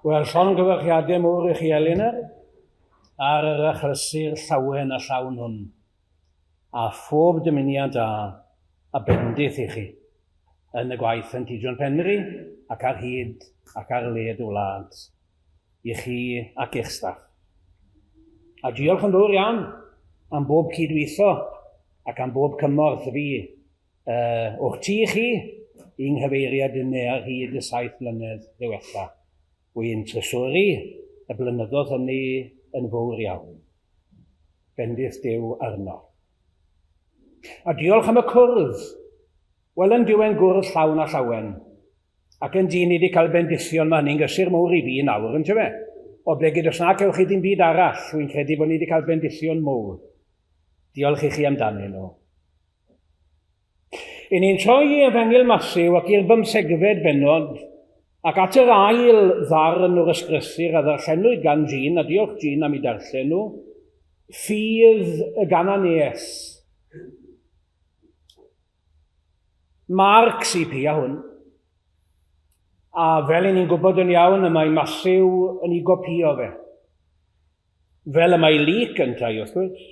Wel, llon gyfarchiadau mawr i chi Elinor ar yr achlysur llawen a llawn hwn, a phob dymuniad da a bendith i chi yn y gwaith yn Dijon Penri ac ar hyd ac ar led y wlad. i chi ac eich staff. A diolch yn fawr iawn am bob cydweithio ac am bob cymorth fi uh, o'ch ti chi yng nghyfeiriad yn ne ar hyd y saith mlynedd ddiwetha. Wy'n trysori y blynyddoedd hynny yn fawr iawn. Bendith Dyw arno. A diolch am y cwrdd. Wel yn diwen gwrdd llawn a llawen. Ac yn di ni di cael bendithion ma hynny'n gysur mowr i fi nawr yn tyfe? O begid os na cewch chi dim byd arall wi'n credu bod ni di cael bendithion mowr. Diolch i chi amdanyn nhw. I ni'n troi i Efengyl Matthew ac i'r bymthegfed benod, ac at yr ail ddarn o'r ysgrythur a ddarllenwyd gan Jean, a diolch Jean am i darllen nhw, ffydd y Gananeaeth. Mae'r CP a hwn, a fel i ni'n gwybod yn iawn y mae Matthew yn ei gopïo fe. Fel y mae Luke yn tai wrth gwrs.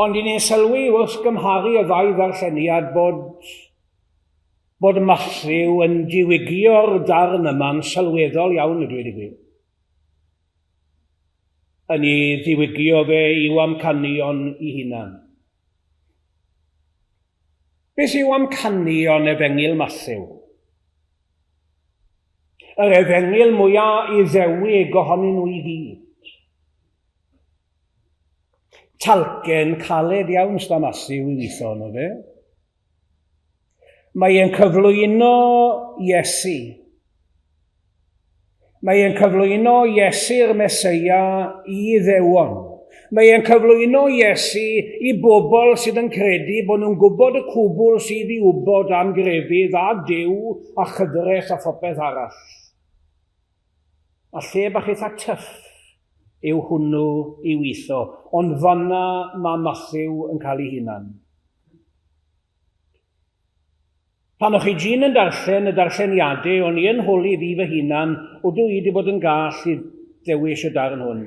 Ond i ni'n sylwi wrth gymharu y ddau ddarlleniad bod, bod Matthew yn diwygio'r darn yma'n sylweddol iawn y dweud y gwir. yn ei ddiwygio fe i'w amcanion i hunan. Beth yw amcanion Efengyl Mathew? Yr Efengyl mwyaf Iddewig ohonyn nhw i gyd. Talcen caled iawn sta Mathew i witho yno fe. Mae e'n cyflwyno Iesu. Mae e'n cyflwyno Iesu'r Mesoea i ddewon. Mae e'n cyflwyno Iesu i bobl sydd yn credu bod nhw'n gwybod y cwbl sydd i wybod am grefydd a Duw a chyfres a phopeth arall. A lle bach eitha tyff yw hwnnw i witho, ond fanna mae Matthew yn cael ei hunan. Pan o'ch chi gin yn darllen y darlleniadau o'n i yn holi fi fy hunan odw i di bod yn gall i ddewis y darn hwn.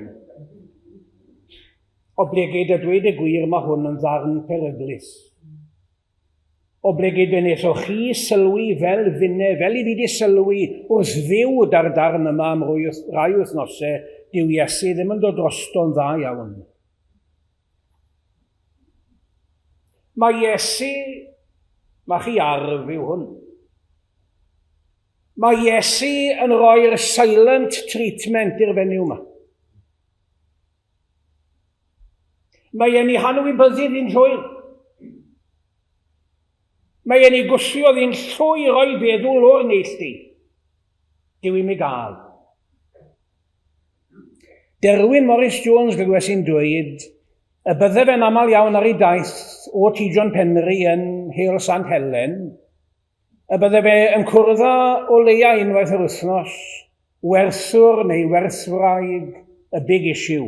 Oblegid a dweud y gwir mae hwn yn ddarn peryglus. Oblegid wnesoch chi sylwi fel finne, fel i fi 'di sylwi wrth fyw da'r darn yma am rai wythnose, dyw Iesu ddim yn dod drosto'n dda iawn. Mae Iesu, mae chi arf yw hwn. Mae Iesu yn rhoi'r silent treatment i'r fenyw yma. Mae e'n ei hanw i byddu ddi'n llwyr. Mae e'n ei gwsio ddi'n llwyr o'i feddwl o'r neilltu. Dyw i'm ei gael. Derwyn Morris Jones glywes i'n dweud y bydde fe'n aml iawn ar ei daith o Tŷ John Penri yn Hel Sant Helen, Y byddai fe yn cwrdd â o leia unwaith yr wythnos, werthwr neu werthwraig y Big Issue.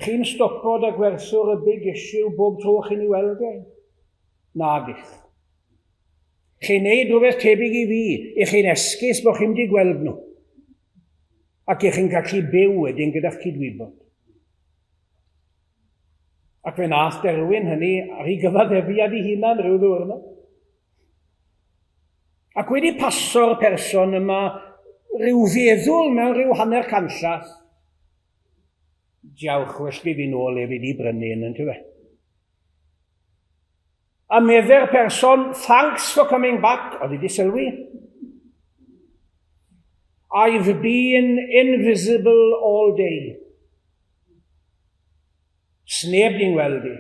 Chi'n stopo da gwerthwr y Big Issue bob tro chi'n ei weld e? Nagych. Chi'n neud rhywbeth tebyg i fi, i chi'n esgus bod chi'n di gweld nhw, ac i chi'n gallu byw wedyn gyda'ch cydwybod. Ac fe wnaeth derwyn hynny ar ei gyfaddefiad ei hunan rhyw ddiwrnod. Ac wedi paso'r person yma rhyw feddwl mewn rhyw hanner canllath, diawch well di fi nôl ef i di brynu yn yntyfe. A medde'r person, Thanks for coming back, oedd hi di sylwi? I've been invisible all day. Sneb di'n gweld i.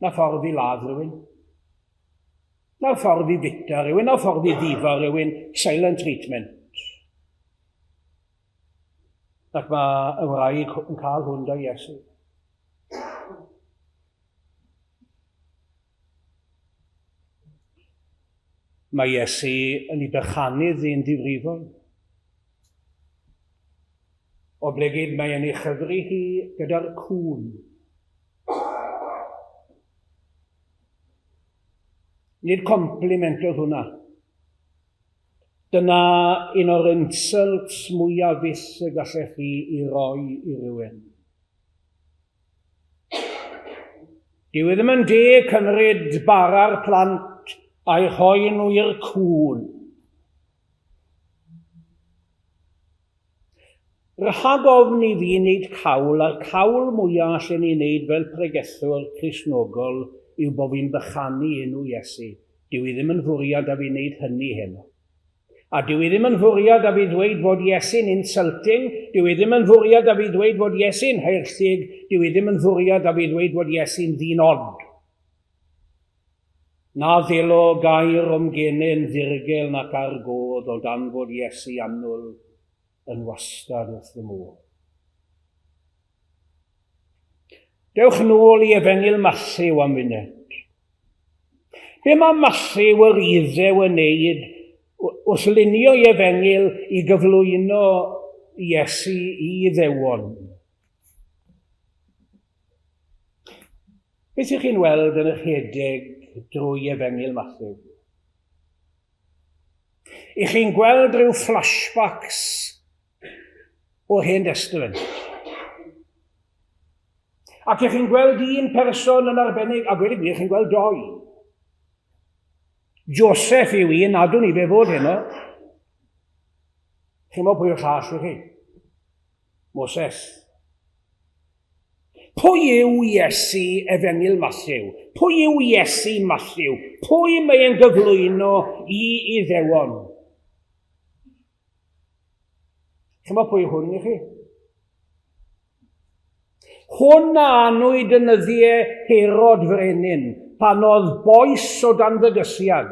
Na ffordd i ladd rhywun. Na ffordd i fita rhywun, na ffordd i ddifo rhywun. Silent treatment. Ac mae y wraig yn cael hwn da Iesu. Mae Iesu yn ei bychanu ddyn difrifol. O blegid mae yn ei chyfri hi gyda'r cŵn. Nid compliment oedd hwnna. Dyna un o'r insults mwya fis y gallech chi i roi i rywun. Dyw e ddim yn deg cymryd bara'r plant a'i rhoi nhw i'r cŵn. Rhag ofn i fi wneud cawl, a'r cawl mwya allen i wneud fel pregethwr Cristnogol yw bo fi'n bychanu enw Iesu, dyw hi ddim yn fwriad 'da fi wneud hynny heno. A dyw hi ddim yn fwriad 'da fi ddweud fod Iesu'n insulting, dyw hi ddim yn fwriad 'da fi ddweud fod Iesu'n haerllug, dyw hi ddim yn fwriad 'da fi ddweud fod Iesu'n ddyn od. Na ddelo gair o'm genyn ddirgel nac ar god o danfod Iesu annwl yn wastad wrth fy modd. Dewch nôl i Efengyl Matthew am funud. Be mae Matthew yr Iddew yn neud wrth lunio i Efengyl i gyflwyno Iesu i Iddewon? Beth ych chi'n weld yn rhedeg drwy efengyl Mathew? Ych chi'n gweld rhyw flashbacks o'r Hen Destament? Ac ych chi'n gweld un person yn arbennig, a gweud y gwir, chi'n gweld doi. Joseph yw un, a dwn i fe fod heno. Chi'n meddwl pwy o'r llall i chi? Moses. Pwy yw Iesu Efengyl Matthew? Pwy yw Iesu Matthew? Pwy mae e'n gyflwyno i Iddewon? Chyma pwy hwn i chi? Hwn a anwyd yn yddiau Herod Frenin pan oedd boes o dan fygysiad.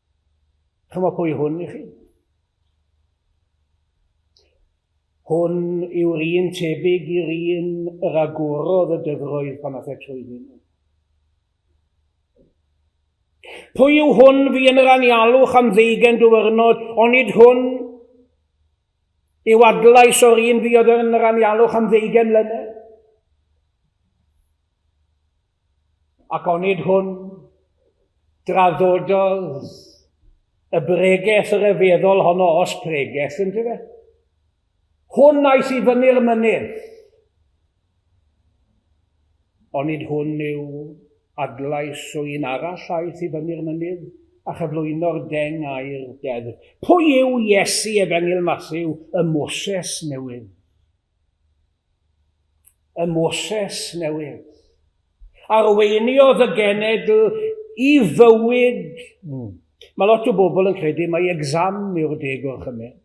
Chymod pwy hwn i chi? Hwn yw'r un tebyg i'r un yr agorodd y dyfroedd pan ath e trwy hyn. Pwy yw hwn fi yn yr anialwch am ddeugen diwrnod, onid hwn yw adlais o'r un fi oedd yn yr anialwch am ddeugen mlynedd? Ac onid hwn draddododd y bregeth ryfeddol honno, os pregeth yn dyfe? Hwn aeth i fyny'r mynydd. Onid hwn yw adlais o un arall aeth i fyny'r mynydd a chyflwyno'r deng air deddf? Pwy yw Iesu Efengyl Matthew y Moses Newydd? y Moses Newydd. Arweiniodd y genedl i fywyd. Hmm. Mae lot o bobl yn credu mai exam yw'r deg o'r chymaint.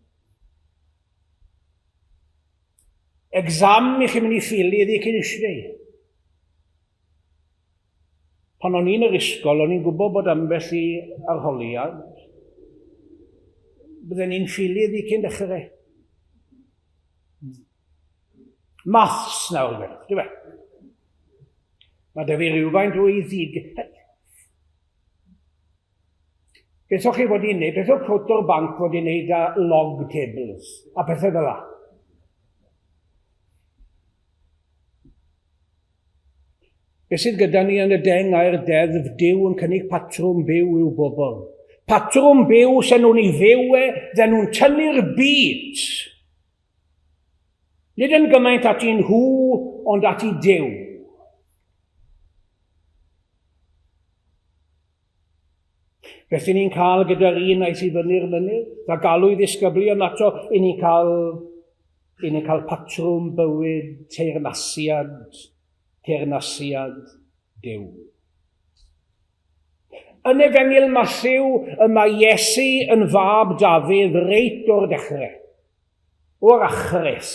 Exam i chi mynd i ffili iddi cyn eisiau. Pan o'n i'n yr ysgol, o'n i'n gwybod bod ambell i arholiad bydden ni'n ffili iddi cyn dechrau. Maths nawr, gwelwch, di fe? Mae da fi rhywfaint o ddig. Beth o'ch chi fod i'n neud? Beth o'ch cwt o'r banc fod i'n neud â log tables a pethau fel la? Beth sydd gyda ni yn y deng ai'r deddf Dyw yn cynnig patrwm byw i'w bobl. Patrwm byw sy'n nhw'n ei fyw e, dden nhw'n tynnu'r byd. Nid yn gymaint ati nhw, ond ati Dyw. Beth ni'n cael gyda'r un aeth i fyny'r mynydd, da galw i ddisgyblion ato, i ni'n cael, i ni'n cael patrwm bywyd teyrnasiad, teyrnasiad Duw. Yn Efengyl Matthew, y mae Iesu yn fab Dafydd reit o'r dechrau, o'r achres.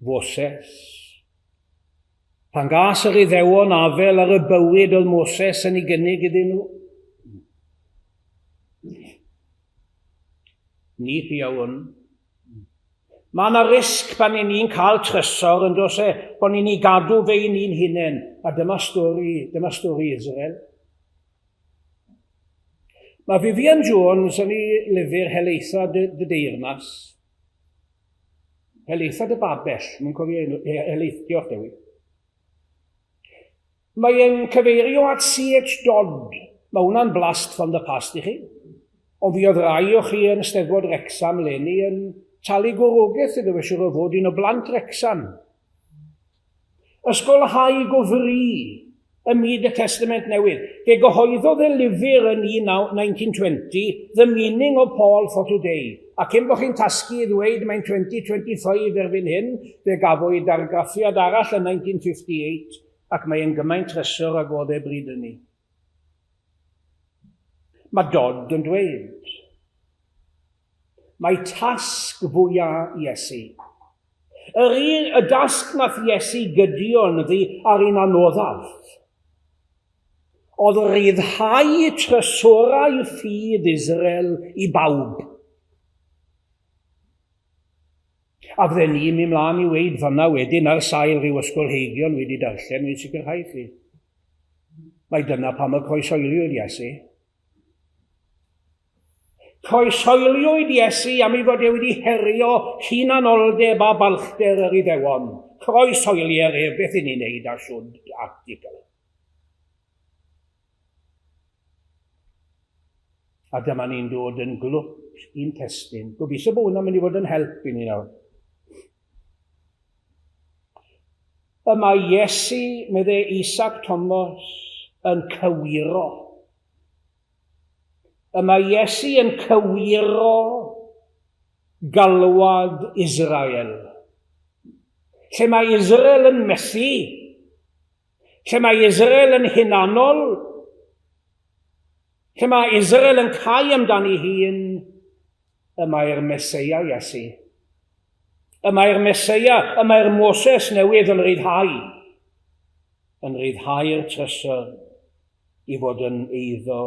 Moses. Pan gas yr iddewon afel ar y bywyd oedd Moses yn ei gynnig iddyn nhw. Ni iawn. Mae yna risg pan ni'n ni'n cael trysor yn dos e, bod ni'n ei gadw fe i ni'n hunain. A dyma stori, dyma stori Israel. Mae Vivian Jones yn ei lyfr Helaetha dy, dy deyrnas. Helaetha dy babell, mwyn cofio enw, e, Helaeth, diolch Dewi. Mae e'n cyfeirio at CH Dodd. Mae hwnna'n blast from the past i chi. Ond fi oedd rai o chi yn Steddfod Wrecsam leni yn talu gwrwgeth iddo fe siwr o fod un o blant Wrecsam. Ysgolhaig o fri ym myd y Testament Newydd. Fe gyhoeddodd e lyfr yn 1920, The Meaning of Paul for Today, a cyn bo chi'n tasgu i ddweud mae'n 2025 erbyn hyn, fe gafwyd argraffiad arall yn 1958, ac mae e'n gymaint drysor ag o'dd e bryd hynny. Mae Dodd yn dweud, Mae tasg fwyaf Iesu, yr un y dasg nath Iesu gydio ynddi a'r un anoddaf, oedd rhyddhau trysorau ffydd Israel i bawb. A fydden ni'n mynd mlaen i weid fanna wedyn ar sail rhyw ysgolheigion wedi darllen, wi'n sicrhau chi. Mae dyna pam y croesoeliwyd Iesu. Croesoeliwyd Iesu am ei fod e wedi herio hunanoldeb a balchder yr iddewon. Croesoelier ef beth i ni wneud a siwd at ddigol. A dyma ni'n dod yn glwp i'n testun. Gobeithio bod hwnna'n mynd i fod yn help i ni nawr. Y mae Iesu, medde Isaac Thomas, yn cywiro. Y mae Iesu yn cywiro galwad Israel. Lle mae Israel yn methu, lle mae Israel yn hunanol, lle mae Israel yn cael amdani hun, y mae'r Mesoea Iesu. Y mae'r Mesoea, y mae'r Moses newydd yn rhyddhau, yn rhyddhau'r trysor i fod yn eiddo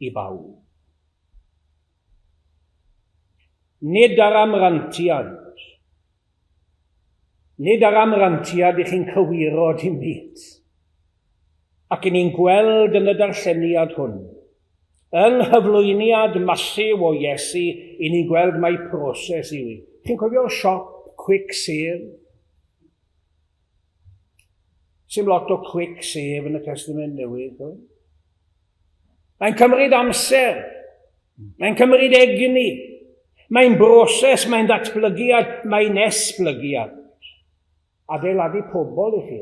i bawb. Nid ar amrantiad, Nid ar amrantiad i chi'n cywiro dim byd. Ac i ni'n gweld yn y darlleniad hwn, yng nghyflwyniad massive o Iesu, i ni'n gweld mai proses yw hi. Chi'n cofio'r siop quick save? Sim lot o quick save yn y Testament Newydd. Dwi. Mae'n cymryd amser. Mae'n cymryd egni. Mae'n broses, mae'n ddatblygiad, mae'n esblygiad. Adeiladu pobl i chi.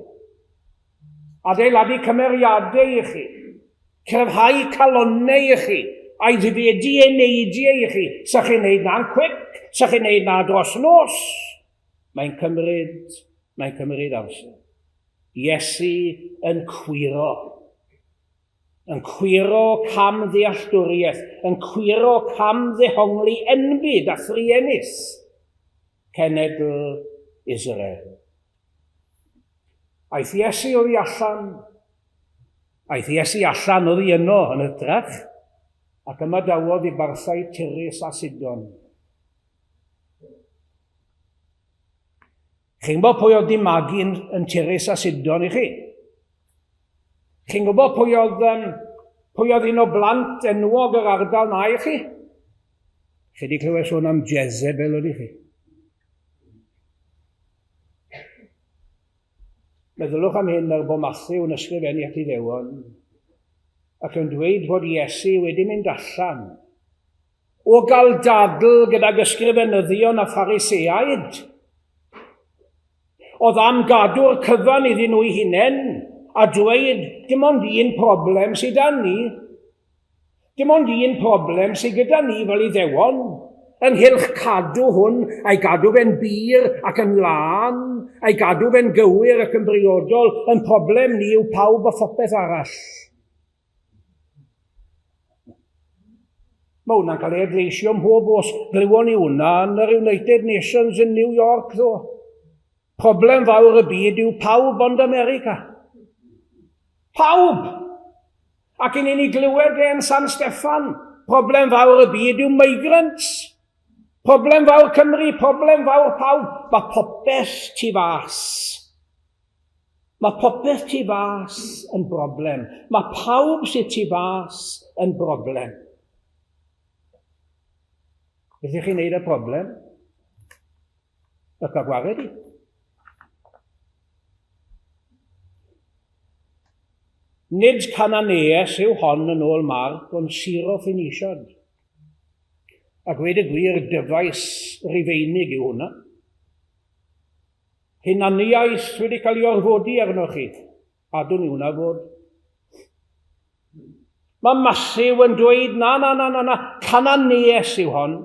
Adeiladu cymeriadau i chi. Cryfhau calonnau i chi. A'i ddifedu ei neidiau i chi. Sa chi'n neud na'n cwic, sa chi'n neud na dros nos. Mae'n cymryd, mae'n cymryd amser. Iesu yn cwiro, yn cwiro cam ddealltwriaeth, yn cwiro cam ddehongli enbyd a thrienus, cenedl Israel. Aeth Iesu oddi allan, aeth Iesu allan oddi yno yn hytrach, ac ymadawodd i barsau Tyrus a Sidon. Chi'n gwybod pwy oedd di magu yn, yn Tyrus a Sidon i chi? Chi'n gwybod pwy oedd, um, pwy oedd un o blant enwog yr ardal na i chi? Chi wedi clywed sôn am Jezebel oeddi chi? Meddyliwch am hyn ar bod Matthew yn ysgrifennu at Iddewon ac yn dweud fod Iesu wedi mynd allan O gael dadl gydag ysgrifenyddion a Phariseaid, oedd am gadw'r cyfan iddyn nhw'i hunain a dweud, dim ond un problem sydd da ni, dim ond un problem sydd gyda ni fel Iddewon, ynghylch cadw hwn, a'i gadw fe'n bur ac yn lân, a'i gadw fe'n gywir ac yn briodol, yn problem ni yw pawb a phopeth arall. Mae hwnna'n cael ei adleisio mhob os glywon ni hwnna yn yr United Nations yn New York ddo. Problem fawr y byd yw pawb ond America. Pawb! Ac yn un i glywed gen San Steffan, problem fawr y byd yw migrants. Problem fawr Cymru, problem fawr pawb. Mae popeth tu fas. Mae popeth tu fas yn broblem. Mae pawb sydd tu fas yn broblem. Beth ych chi'n neud â problem? Ych a gwared i. Nid Cananees yw hon yn ôl Marc, ond Siro Phoenician. A gweud y gwir, dyfais rifeinig yw hwnna. hunaniaeth wedi cael ei orfodi arnoch chi, a dwn i hwnna fod. Mae Matthew yn dweud, na, na, na, na, na, cananies yw hon.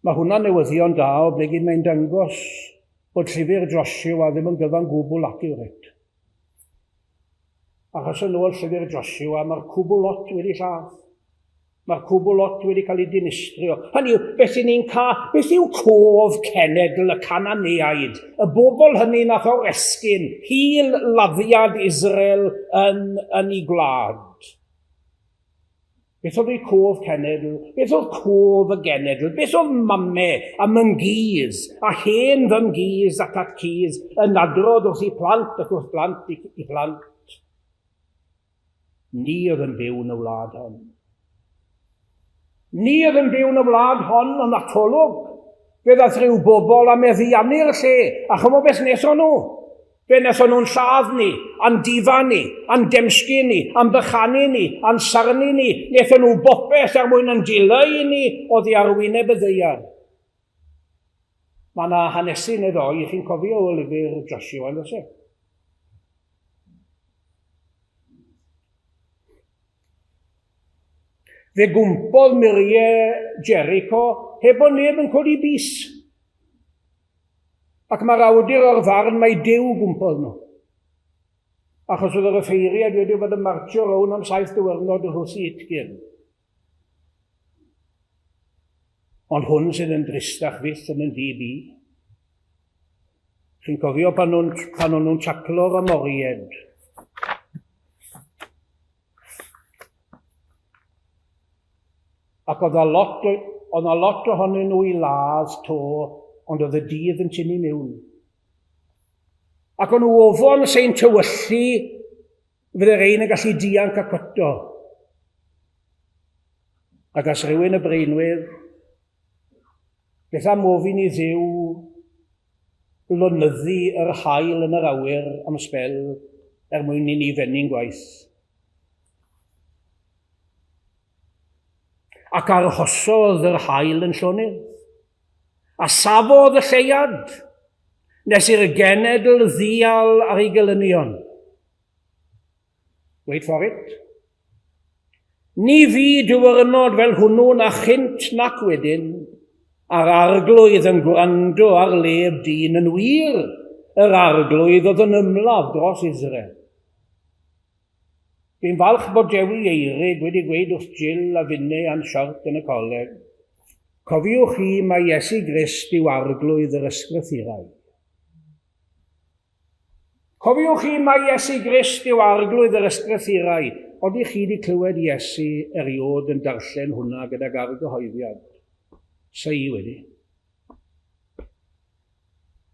Mae hwnna'n newyddion da o ble gyd mae'n dangos bod llyfr Joshua ddim yn gyfan gwbl accurate. Achos yn ôl llyfr Joshua, mae'r cwbl lot wedi lladd. Mae cwbl lot wedi cael ei dinistrio. Hynny yw, beth y'n ni'n cael? Beth yw cof cenedl y Cananeaid? Y bobl hynny nath oresgyn hil laddiad Israel yn, yn ei gwlad. Beth oedd ei cof cenedl? Beth oedd cof y genedl? Beth oedd mame a myngyz a hen fymgyz a tatcyz yn adrodd wrth ei plant ac wrth blant ei plant? Ni oedd yn byw yn y wlad hon. Ni oedd yn byw yn y wlad hon ond atolwg. Fe ddaeth rhyw bobl a meddiannu'r lle, a chymod beth neson nhw? Fe neson nhw'n lladd ni, a'n difan ni, a'n demsgyn ni, a'n bychanu ni, a'n sarnu ni, neson nhw bopeth er mwyn yn dileu i ni oddi ar wyneb y ddeiar. Mae yna hanesu neu ddoi, chi'n cofio o lyfr Joshua, yn oes e? Fe gwmpodd Mirie Jericho heb bod neb yn codi bys. Ac mae'r awdur o'r farn mai Duw gwmpodd nhw. Achos oedd yr offeiriad wedi bod yn martio rown am saith diwrnod rhwth i Itgyn. Ond hwn sydd yn dristach fyth yn yn ddi bi. Chi'n cofio pan o'n, pan o'n nhw'n taclo Ramoried? Ac oedd a lot, oedd a lot ohonyn nhw i ladd to, ond oedd y dydd yn tynnu miwn. Ac o'n nhw ofon sy'n tywyllu Fydde rhain yn gallu dianc a cwto. A gas rhywun y breinwydd, beth am ofyn i ddiw lonyddu yr haul yn yr awyr am sbel er mwyn i ni fenni'n gwaith. Ac arhosodd yr haul yn llonydd, a safodd y lleiad, nes i'r genedl ddial ar ei gelynion. Wait for it. Ni fu diwrnod fel hwnnw na chynt nac wedyn, a'r arglwydd yn gwrando ar leb dyn yn wir, yr arglwydd oedd yn ymladd dros Israel. Dwi'n falch bod Dewi Eirig wedi gweud wrth Jill a finne am siorc yn y coleg. Cofiwch chi mai Iesu Grist yw Arglwydd yr Ysgrythurau. Cofiwch chi mai Iesu Grist yw Arglwydd yr Ysgrythurau. Odych chi wedi clywed Iesu eriod yn darllen hwnna gydag argyhoeddiad? Sa i wedi.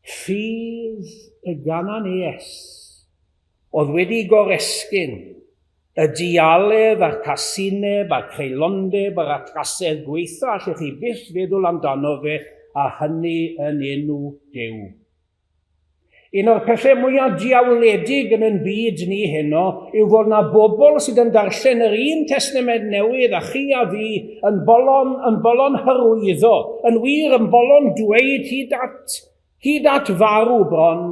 Ffydd y Gananees. oedd wedi goresgyn y dialedd a'r casineb a'r creulondeb yr atrasedd gwaetha allech chi byth feddwl amdano fe, a hynny yn enw Duw. Un o'r pethau mwyaf diawledig yn yn byd ni heno yw fod na bobl sydd yn darllen yr un Testament Newydd a chi a fi yn bolon, yn bolon hyrwyddo, yn wir yn bolon dweud hyd at Hyd at farw bron,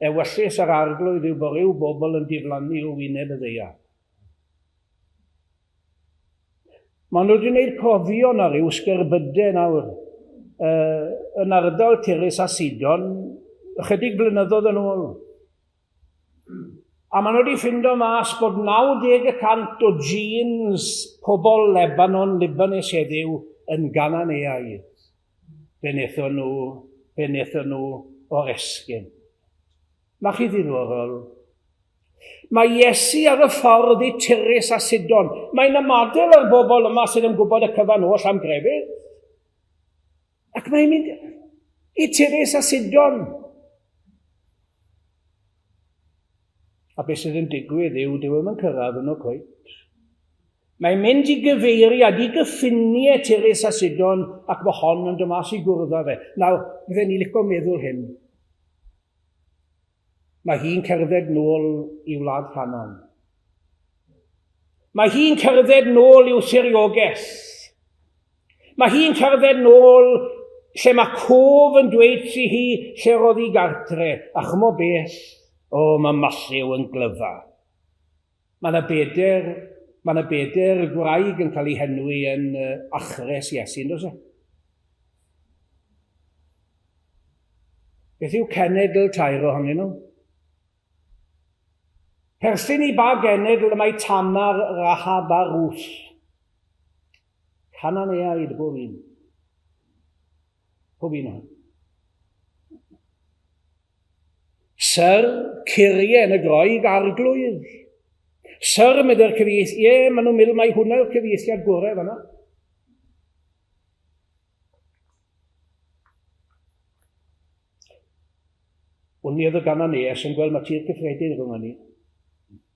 ewyllys yr Arglwydd yw bod rhyw bobl yn diflannu o wyneb y ddaear. Maen nhw wedi gwneud profion ar ryw sgerbydau nawr yn ardal Tirus a Sidon ychydig blynyddoedd yn ôl. A maen nhw wedi ffindo mas bod 90 y cant o genes pobl Lebanon, Libanes heddiw, yn Gananeaidd. Be wnaethon nhw? Be wnaethon nhw o'r esgyn? Mae chi ddiddorol. Mae Iesu ar y ffordd i Tyrus a Sidon. Mae'n ymadel ar bobl yma sydd yn gwybod y cyfan oll am grefydd. Ac mae'n mynd i Tyrus a Sidon. A beth sydd yn digwydd yw, dyw e'm yn cyrraedd yno cweit. Mae'n mynd i gyfeiriad, i gyffiniau Tirus a Sidon, ac mae hon yn dymas i gwrdd â fe. Nawr, fydden ni licio meddwl hyn. Mae hi'n cerdded nôl i wlad Canan. Mae hi'n cerdded nôl i'w sirioges. Mae hi'n cerdded nôl lle mae cof yn dweud si hi lle roedd i gartre, a chmo beth, o, mae Matthew yn glyfa. Mae yna beder, mae yna beder y gwraig yn cael ei henwi yn achres Iesu, yn e? Beth yw cenedl tair ohonyn nhw? Perthyn i ba genedl y mae Tamar, Rahab a Ruth? Cananeaid bob un. Pob un o'n. Sir Cyrie yn y Groeg Arglwydd. Sir meddai'r cyfieith, ie, yeah, maen nhw'n meddwl mai hwnna yw'r cyfieithiad gorau fanna. Ond mi oedd y Gananeas yn gweld mae tir cyffredin rhwng ni.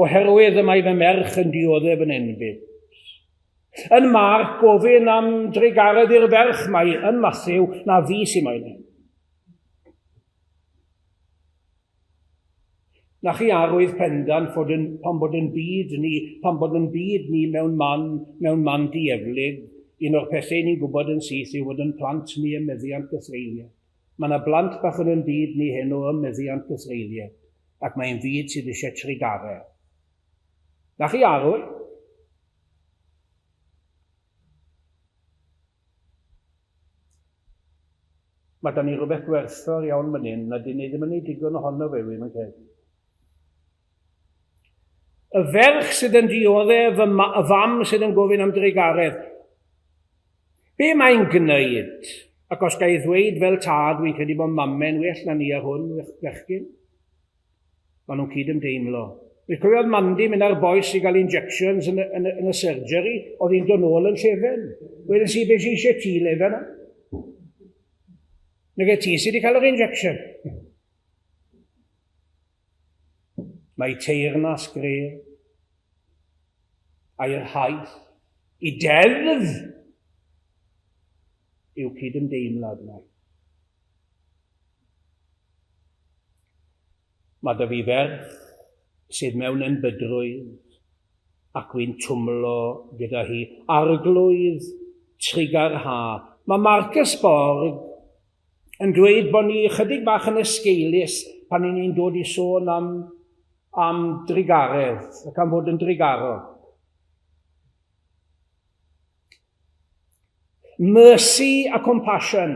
Oherwydd y mae fy merch yn dioddef yn enbyd. Yn Marc, gofyn am drugaredd i'r ferch mae yn Matthew, na fi sy'n mae ni. Na chi arwydd pendant fod yn, pan bod yn byd ni, pan bod yn byd ni mewn man, mewn man dieflig, un o'r pethau ni'n gwybod yn syth yw fod yn plant ni ym meddiant gythreiniad. Mae 'na blant bach yn 'yn byd ni hŷn o ym meddiant Bethleilied ac mae hi'n fyd sydd eisiau trugaredd. Na chi arwr? Mae 'da ni rywbeth gwerthfawr iawn man 'yn na 'dyn ni ddim yn 'neud digon ohono fe, wi'm yn credu. Y ferch sydd yn dioddef, y fam sydd yn gofyn am drugaredd. Be mae'n gwneud? Ac os ga i ddweud fel tad, wi'n credu bod mamen well na ni ar hwn, fechgyn. Maen nhw'n cyd-ymdeimlo. Dwi'n cofio oedd Mandy mynd â'r bois i gael injections yn y, yn y, yn y surgery, oedd hi'n dod nôl yn llefen. Wedyn si, beth sy'n eisiau ti lefen o? Nage ti sydd wedi cael yr injection. Mae teyrnas gref a yrhaith i deddf yw cydymdeimlad mai. Mae dy fi ferch sydd mewn enbydrwydd ac wy'n twmlo gyda hi. Arglwydd trugar ha. Mae Marcus Borg yn dweud bod ni ychydig bach yn esgeulus pan i ni'n dod i sôn am, am drugaredd ac am fod yn drugarog. Mercy a compassion.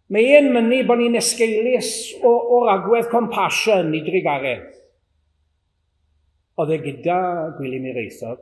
Mae e'n mynnu bod ni'n esgeulus o, o'r agwedd compassion i drugaredd. Oedd e gyda Gwilym Ireithog,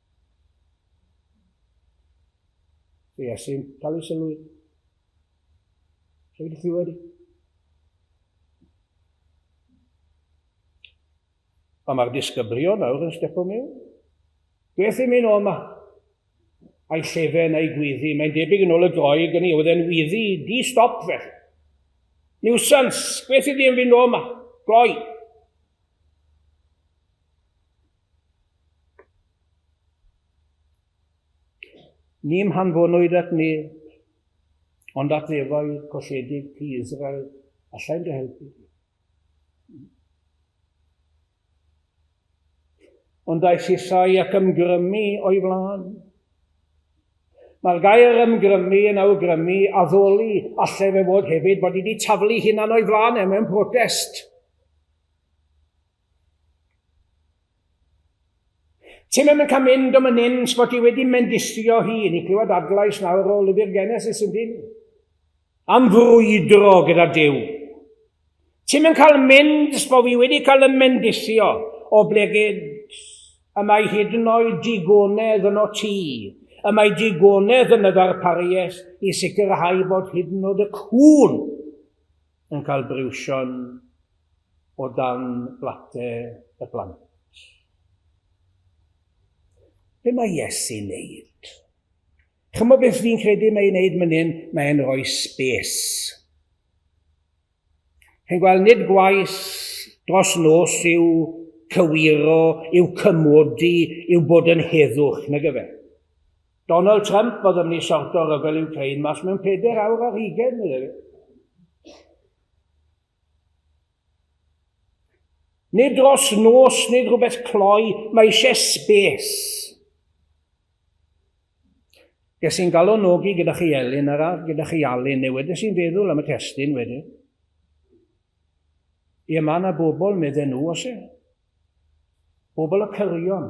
Fi a sy'n cael ei sylwi. Rhaid i chi wedi. A mae'r disgybrio nawr yn stepo mewn. Beth i'n mynd o yma? A'i llefen a'i gwyddi, mae'n debyg yn ôl y droig yn ei oedd e'n wyddi di stop felly. Niwsans, beth ydi yn fynd o yma? Gloi. Nim hanfonwyd at neb, ond at ddefaid colledig ti Israel, allai'n dy helpu di. Ond daeth Isai ac ymgrymu o'i flaen. Mae'r gair ymgrymu yn awgrymu addoli, allai fe fod hefyd bod wedi taflu hunan o'i flaen e mewn protest. Ti ddim yn cael mynd o man hyn, bod ti wedi mendithio hi, ni clywed adlais nawr o lyfr Genesis yn dyn. Am frwydro gyda Dyw. Ti ddim yn cael mynd, bod fi wedi cael y mendithio o blegyd. Y mae hyd yn oed digonedd yn o ti. Y mae digonedd yn y ddarpariaeth i sicrhau bod hyd yn oed y cŵn yn cael briwsion o dan blate y plant. Be mae Iesu'n neud? Chymod beth fi'n credu mae'n neud mynd hyn? Mae'n rhoi spes. Chi'n gweld, nid gwaith dros nos yw cywiro, yw cymodi, yw bod yn heddwch, nag efe. Donald Trump oedd yn mis ordo rhyfel Ukraine mas mewn peder awr ar hugain, medde fe. Nid dros nos, nid rhywbeth cloi, mae eisiau spes. Ges i'n galonogi gyda chi Elin ar ardd gyda chi Alun, neu wedi sy'n feddwl am y testyn wedyn. Ie, mae yna bobl, medden nhw, os e. Bobl y cyrion.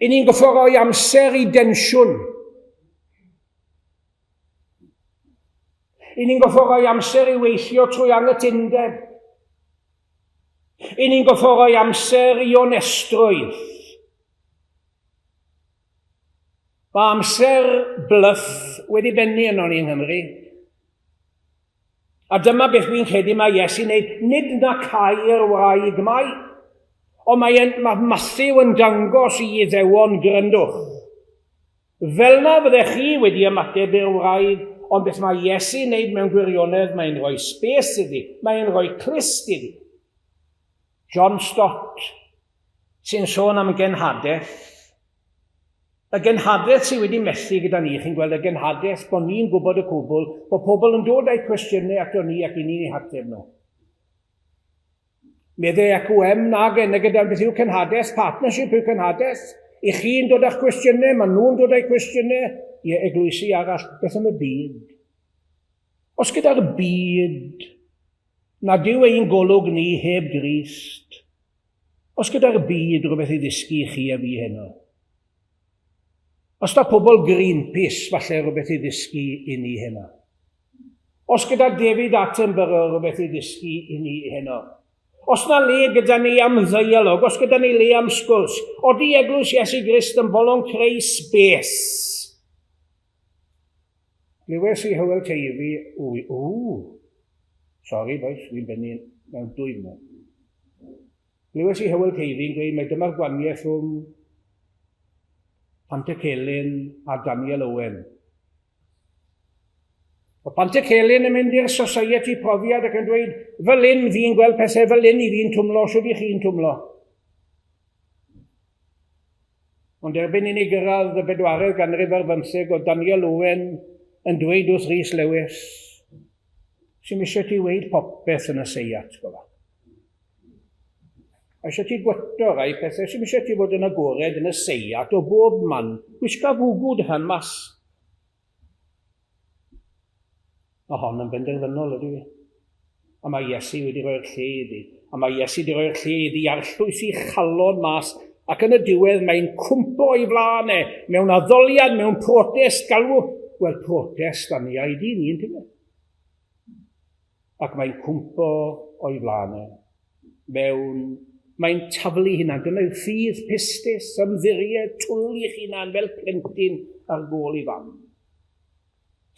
I ni'n gorfod rhoi amser i densiwn. I ni'n gorfod rhoi amser i weithio trwy anghytundeb. I ni'n gorfod rhoi amser i onestrwydd. Mae amser bluff wedi bennu yno ni yng Nghymru. A dyma beth dwi'n credu mae Iesu'n neud, nid na cau'r wraig mai, ond mae, en, mae Matthew yn dangos i Iddewon gryndwch. Fel na fydde chi wedi ymateb i'r wraig, ond beth mae Iesu'n neud mewn gwirionedd, mae'n rhoi sbes iddi, mae'n rhoi clust iddi. John Stott, sy'n sôn am genhadaeth, Y genhadaeth sydd wedi methu gyda ni, chi'n gweld, y genhadaeth bod ni'n gwybod y cwbl, bod pobl yn dod â'u cwestiynau ato ni ac i ni'n eu hateb nhw. Meddai acw em, na gen y gyda'n beth yw cenhadaeth, partnership yw cenhadaeth. I chi'n dod â'ch cwestiynau, maen nhw'n dod â'u cwestiynau i e- eglwysi arall, beth am y byd? Os gyda'r byd, nad yw ein golwg ni heb Grist, Os gyda'r byd rhywbeth i ddysgu i chi a fi heno. Os da pobl Greenpeace falle rhywbeth i ddysgu i ni heno. Os gyda David Attenborough rhywbeth i ddysgu i ni heno. Os na le gyda ni am ddeialog, os gyda ni le am sgwrs, odi Eglwys Iesu Grist yn bolon creu sbes? Glywes i Hywel Teifi, Ww, ww! Sori, bois, fi'n bennu mewn dwy funud. Glywes i Hywel Teifi yn gweud mai dyma'r gwaniaeth rhwng Pantycelyn a Daniel Owen. Mae Pantycelyn yn mynd i'r Society profiad ac yn dweud, fel un fi'n gweld pethau, fel un i fi'n twmlo, shwt i chi'n twmlo? Ond erbyn i ni gyrraedd y bedwaredd ganrif ar bymtheg oedd Daniel Owen yn dweud wrth Rhys Lewis, Sy'm eisiau ti weud popeth yn y seiat, gofa. A eisiau ti gweto rai pethau sy'm eisiau ti fod yn agored yn y seiat o bob man, gwisga gwgwd rhan mas. Mae hon yn benderfynol, ydy. A mae Iesu wedi rhoi'r lle iddi. A mae Iesu wedi rhoi'r lle iddi arllwys i chalon mas ac yn y diwedd mae'n cwmpo i flaen e mewn addoliad, mewn protest, galwch, wel protest am ei aed i ni, yn tyfe? ac mae'n cwmpo o'i flaen e. Mewn. Mae'n taflu hunan, dyna'i ffydd pistis, ymddiried, twli'ch hunan fel plentyn ar gôl ei fam.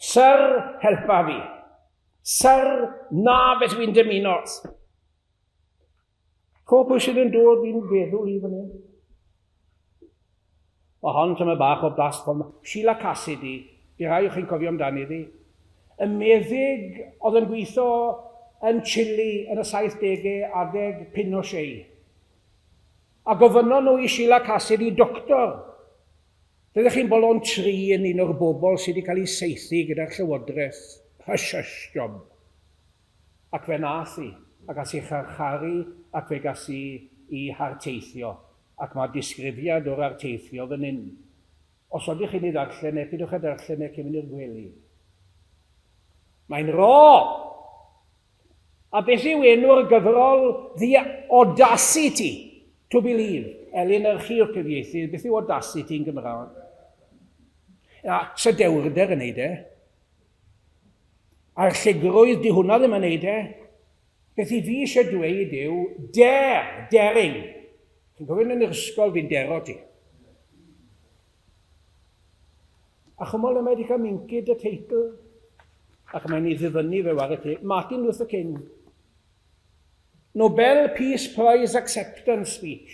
Syr, helpa fi! Syr, na, fe ydw i'n dymuno. Chwp pwy sydd yn dod i'n feddwl i fan hyn? Mae hon tymed bach o blast pan mae Sheila Cassidy, i rai o chi'n cofio amdani ddi, y meddyg oedd yn gweithio yn Chile yn y 70au adeg Pinochet. A gofynnon nhw i Sheila Cassidy, Doctor, fyddech chi'n bolon trin un o'r bobl sydd wedi cael ei saethu gyda'r llywodraeth? Hush hush, job. Ac fe wnaeth hi, a gas ei charcharu ac fe gas i i harteithio, ac mae disgrifiad o'r arteithio fan hyn. Os ydych chi'n ei ddarllen e, peidiwch â darllen e cyn mynd i'r gwely. Mae'n raw! A beth yw enw'r gyfrol? The Audacity to Believe. Elin, yr chi yw'r cyfieithydd, beth yw audacity yn Gymraeg? A, tydewrder yn ei de. A'r llugrwydd, dyw hwnna ddim yn neud e. Beth i fi eisiau dweud yw, der, daring. Chi'n cofio yn yr ysgol, fi'n dero ti. A chymol yma wedi cael mincyd y teitl, ac mae'n ei ddyfynnu fe war y teg, Martin Luther King. Nobel Peace Prize Acceptance Speech.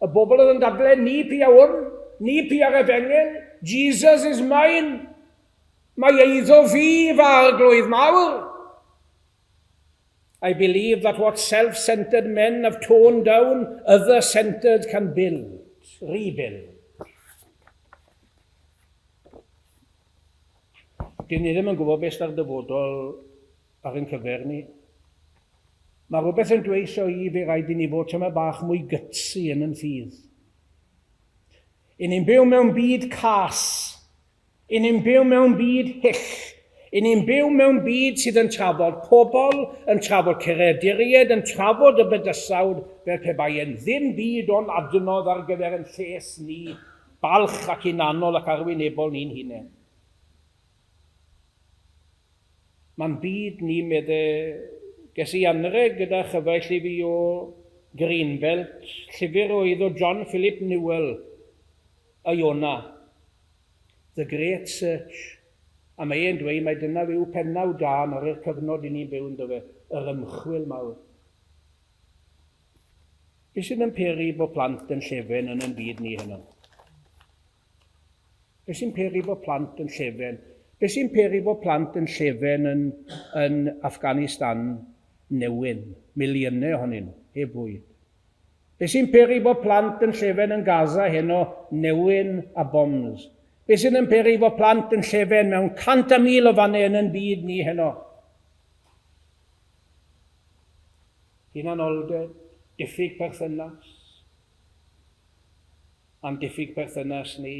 Y bobl oedd yn dadlau, Ni pi a wn, ni pi a'r efengyl, Jesus is mine! Mae eiddo fi fy Arglwydd mawr! I believe that what self-centered men have torn down, other-centered can build, rebuild. Dyn ni ddim yn gwybod beth sydd ar dyfodol ar ein cyfer ni. Mae rhywbeth yn dweud wrtho i fe rhaid i ni fod tyma bach mwy gytsi yn yn ffydd. I ni'n byw mewn byd cas. I ni'n byw mewn byd hyll. I ni'n byw mewn byd sydd yn trafod pobl, yn trafod creaduriaid, yn trafod y bydysawd fel pe bai e'n ddim byd ond adnodd ar gyfer yn lles ni Balch ac hunanol ac arwynebol ni'n hunain. Ma'n byd ni, mede. Ges i anrheg gyda chyfaill i fi o Greenbelt, llyfr o eiddo John Philip Newell, Iona, The Great Search, a mae e'n dweud mai dyna yw pennawd da ar yr cyfnod 'yn ni'n byw ynddo fe, yr ymchwil mawr. Beth sydd yn peri bod plant yn llefen yn ein byd ni heno? Beth sy'n peri bod plant yn llefen? Beth sy'n peri bod plant yn llefen yn, yn Afghanistan newyn, miliynau ohonyn nhw, heb fwyd? Beth sy'n peri bod plant yn llefen yn Gaza heno, newyn a bombs? Beth sydd yn peri bod plant yn llefen mewn cant a mil o fannau yn ein byd ni heno? Hunanoldeb, diffyg perthynas, a'n diffyg perthynas ni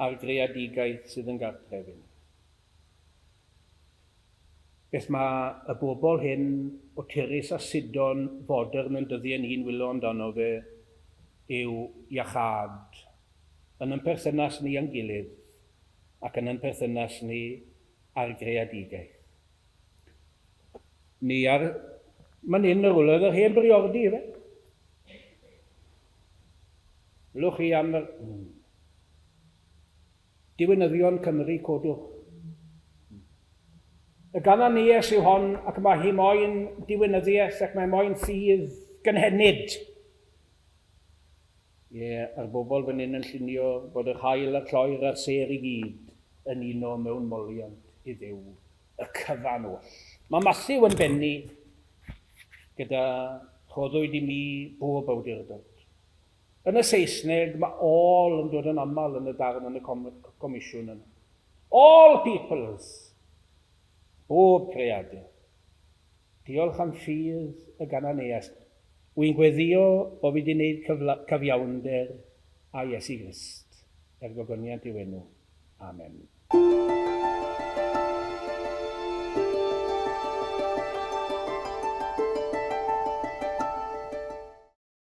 â'r greadigaeth sydd yn gartref inni. Beth mae y bobl hyn o Tyrus a Sidon fodern yn dyddie ni'n wylo amdano fe yw iachâd yn yn perthynas ni â'n gilydd ac yn yn perthynas ni â'r greadigaeth. ni ar man hyn yn rhywle oedd yr hen briordy ife? Meddwch chi am yr diwinyddion Cymru codwch. Y gan Annies yw hon ac mae hi moyn diwinyddiaeth ac mae moyn ffydd gynhenid. Ie, a'r bobl fan hyn yn llunio bod yr haul a'r lloer a'r sêr i gyd yn uno mewn moliant i Dduw, y cyfan oll. Mae Mathew yn bennu gyda Rhoddwyd i mi bob awdurdod. Yn y Saesneg, mae all yn dod yn aml yn y darn yn y comisiwn yna. All peoples! Bob creadur. Diolch am ffydd y ganan eas. Wy'n gweddio o fyd i wneud cyfiawnder â Iesu Grist, er gogoniant i'w enw. Amen.